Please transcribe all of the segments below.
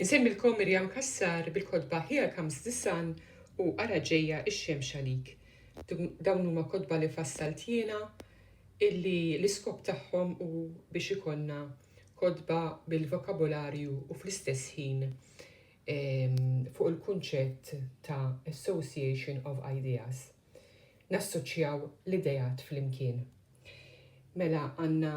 Insemmilkom Miriam Cassar bil-kotba Here Comes the Sun u Ara Ġejja x-Xemx Għalik. Dawn huma kotba li fassalt jiena illi l-iskop tagħhom hu biex ikollna kotba bil-vokabolarju u fl-istess ħin ehm, fuq il-kunċett ta' association of ideas. Nassoċjaw l-idejat flimkien. Mela għandna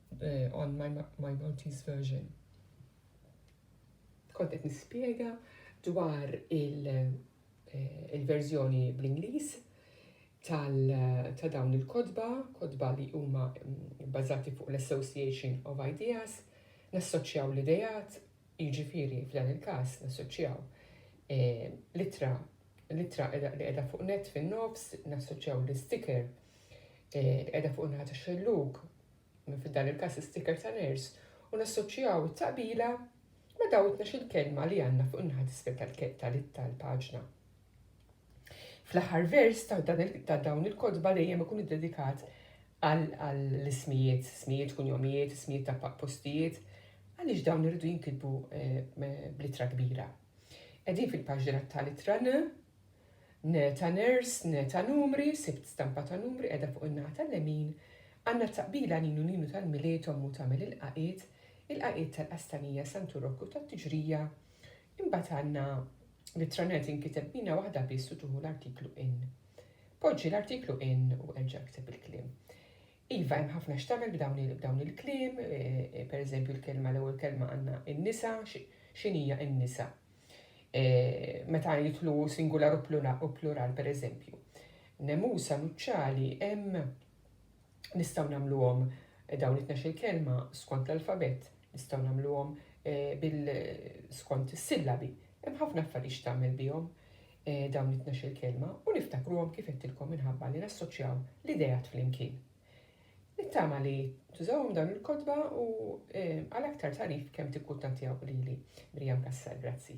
on my, my Maltese version. Kont qed nispjega dwar eh, il-verżjoni il bl-Ingliż ta' dawn il-kodba, kodba li huma mm, bażati fuq l-Association of Ideas, nassoċjaw l-idejat, jiġifieri f'dan il-każ nassoċjaw eh, litra litra li qiegħda fuq net fin-nofs, nassoċjaw l-sticker eh, li qiegħda fuq naħa ta' xelluk minn f'dan il-każ l-isticker ta' nurse, u nassoċjaw it-taqbila ma' dawn it-tnax-il kelma li għandna fuq in-naħa t'isfel tal-paġna. Fl-aħħar vers ta' dawn il-kotba dejjem ikun iddedikat għall-ismijiet, ismijiet, kunjomijiet, ismijiet ta' postijiet, għaliex dawn irridu jinkitbu eh, bl-ittra kbira. Qegħdin fil-paġna tal-ittra N, Neta nurse, neta numri, sibt stampa ta' numri qiegħda fuq in-naħa tal-lemin, għandna t-taqbila Ninu Ninu tal-Milied ommu tagħmel il-qaqiet, il-qaqiet tal-Qastanija Santu Rokku tat-Tiġrija, imbagħad għandna L-ittranett jinkiteb b'mina waħda biss u tieħu l-artiklu in. Poġġi l-artiklu in u erġa' ikteb il-kliem. Iva, hemm ħafna x'tagħmel b'dawn il-kliem, per eżempju l-kelma, l-ewwel kelma għandna in-nisa, x'inhi hija n-nisa? Meta jidħlu singular u plural, per eżempju. Nemusa, nuċċali, hemm nistgħu nagħmluhom dawn it-tnax il-kelma skont l-alfabet, nistgħu nagħmluhom bil skont is-sillabi. Hemm ħafna affarijiet x'tagħmel bihom. dawn it-tnax-il kelma u niftakruhom kif għedtilkom minħabba li nassoċjaw l-ideat flimkien. Nittama li tużawhom dawn il-kotba u għal aktar tagħrif kemm tikkuttantjaw lili. Miriam Cassar, grazzi.